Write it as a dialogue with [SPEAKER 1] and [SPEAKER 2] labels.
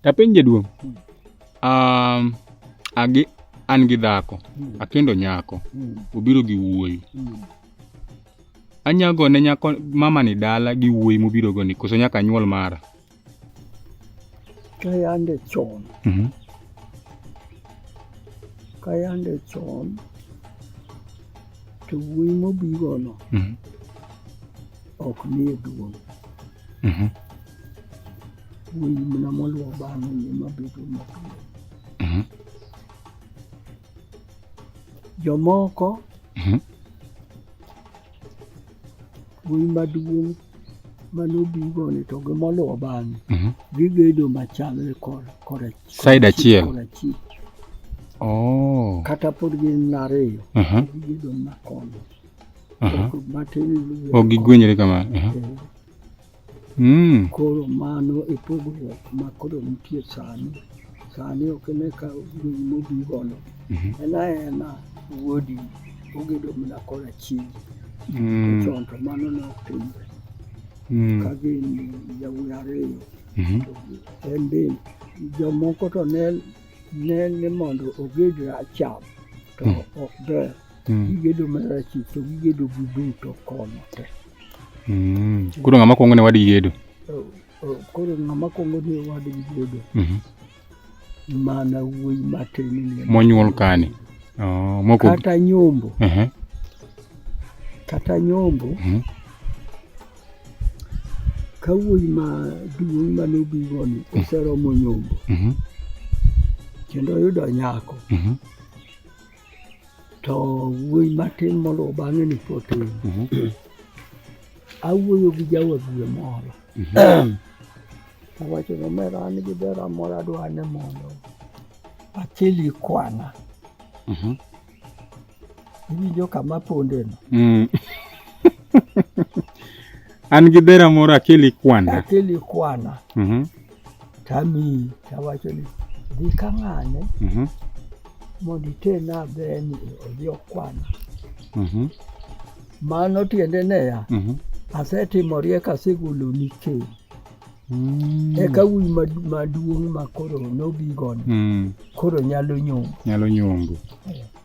[SPEAKER 1] Tapenj jaduong'. Um, agi an gi dhako, hmm. akendo nyako, hmm. obiro gi wuoyi. Hmm. Anyago ne nyako mama ni dala gi wuoyi mobiro go ni koso nyaka nyuol mara.
[SPEAKER 2] Kayande chon. Mhm. Kayande chon to wuoyi mobigo no. Mhm. Ok nie duong'. Mhm. Wuoyi mana moluwo bang'e ni ema bedo mapiyo. Mhm. Jomoko Mhm. wuoyi maduong' mane obigo ni to gi moluwo bang'e Mhm. gigedo machalre kor kora Side achiel.
[SPEAKER 1] kora chik Oh.
[SPEAKER 2] kata pod gin ariyo Aha. gigedo makono Aha. matin
[SPEAKER 1] luwe Ok gigwenyre kamano. Aha. Eh, Mm.
[SPEAKER 2] Koro mano e pogruok ma koro nitie sani. Sani ok ine ka wuoyi mobi gono. Mhm. En aena wuodi ogedo mana kora chiegi. Mm. Chon to mano ne ok timre. Mm. Ka gin yawuoyi ariyo Mhm. to en be jomoko to ne ne ni mondo oged racham to Mhm. ok ber. mm. gigedo mar achich to gigedo gi duto kono te mm.
[SPEAKER 1] koro ng'ama kwongo ne wadgi gedo oh, oh, koro
[SPEAKER 2] ng'ama kwongo ne wadgi gedo mm-hmm. mana wuoyi matin monyuol kani
[SPEAKER 1] oh, kata
[SPEAKER 2] nyombo uh-huh. kata nyombo mm-hmm. ka wuoyi ma duong' mane obigoni mm-hmm. oseromo nyombo kendo oyudo nyako to wuoyi matin moluwo bang'e ni potin mhm. awuoyo gi jawadue moro mhm. awacho ni omera an gi bera moro adwa ni mondo achili kwana mhm. iwinjo kama pondeno mm.
[SPEAKER 1] an gi bera moro akeli kwana akeli kwana
[SPEAKER 2] tamiyi tawacho ni dhi ka ng'ane mhm. mondo itena beni odhi okwana mhm. mano tiende neya mhm. asetimo riek asegoloni keny Mm. Eka wuoyi maduong' ma koro nobigoni mm. koro nyalo nyombo. Nyalo nyombo.